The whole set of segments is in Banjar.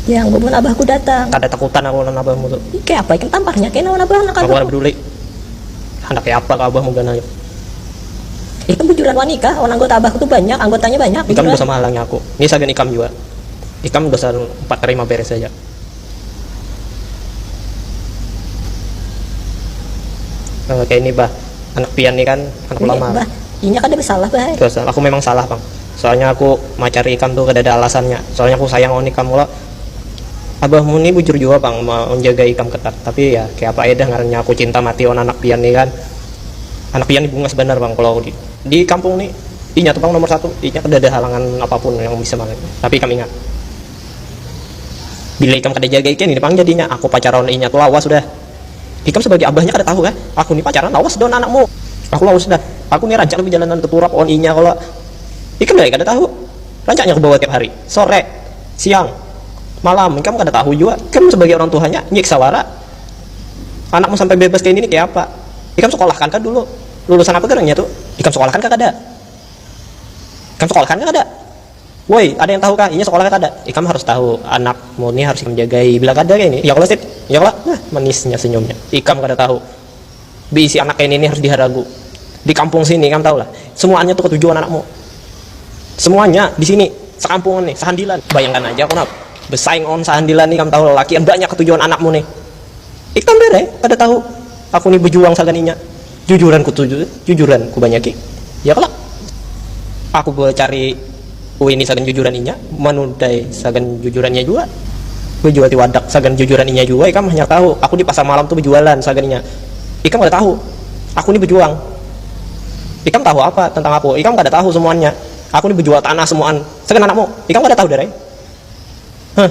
Yang bubun abahku datang. Kada takutan aku lawan abahmu tu. Ih, kaya apa ikam tamparnya kena lawan abah anak abahku. Aku kada peduli. Handak kaya apa ka abahmu ganal. Ikam bujuran wani kah lawan anggota abahku tu banyak, anggotanya banyak, bujuran. Ikam dosa mahalangi aku. Ni sagan ikam jua. Ikam dasar umpat tarima beres haja. Nah, kayak ini bah, anak pian nih kan, anak ulama. Bah, inya kada bersalah bah. Dosa, aku memang salah pang. Soalnya aku macari ikam tuh kadada alasannya. Soalnya aku sayang lawan ikam kalo. Abahmu nih bujur jua pang manjagai ikam ketat. Tapi ya kaya apa ai dah ngarannya aku cinta mati lawan anak pian nih kan. Anak pian nih bungas banar pang kalo di di kampung nih inya tuh pang nomor satu. Inya kadada halangan apapun yang bisa malahnya. Tapi ikam ingat. Bila ikam kada jaga ikan ini pang jadinya, aku pacaran lawan inya tu lawas sudah. Ikam sebagai abahnya kada tahu kah, aku ni pacaran lawas lawan anakmu. Aku lawas sudah, aku ni rancak bejalanan teturap lawan inya kalo ikam nilai kada tahu. Rancaknya aku bawa tiap hari, sore, siang, malam, ikam kada tahu jua. Ikam sebagai orang tuhanya nyiksa wara. Anakmu sampai bebas kaya ini kayapa. Ikam sekolahkan kah dulu, lulusan apa garangnya tu. Ikam sekolahkan kah kada. Ikam sekolahkan kah kada. Woi, ada yang tahu kah? Inya sekolah kah kada? Ikam harus tahu, anak mu ni harus ikam jagai. Bila kada kaya ini, ya kalo Sip? Ya kalo? Nah, manisnya senyumnya. Ikam kada tahu, beisi anak kaya ini ni harus diharagu. Di kampung sini, ikam tahu lah, semuanya tu ketuju wan anak mu. Semuanya di sini, sekampungan ni, sehandilan. Bayangkan aja Kunap, besaing wan sehandilan ni, ikam tahu lalakian banyak ketuju wan anak mu ni. Ikam banar ai, kada tahu, aku ni bejuang sagan inya. Jujuran ku tuju jujuran ku banyaki ya kalo aku bacari uini sagan jujuran inya manudai sagan jujuran inya jua bajual ti wadak sagan jujuran inya jua ikam hanyar tahu aku di pasar malam tu bajualan sagan inya ikam kada tahu aku ni bajuang ikam tahu apa tentang aku ikam kada tahu semuannya aku ni bajual tanah semuaan sagan anakmu ikam kada tahu darai huh.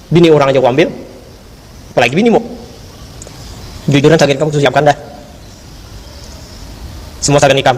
Bini urang aja kuambil, apalagi binimu. Jujuran sagan ikam kusiapkan dah semua sagan ikam.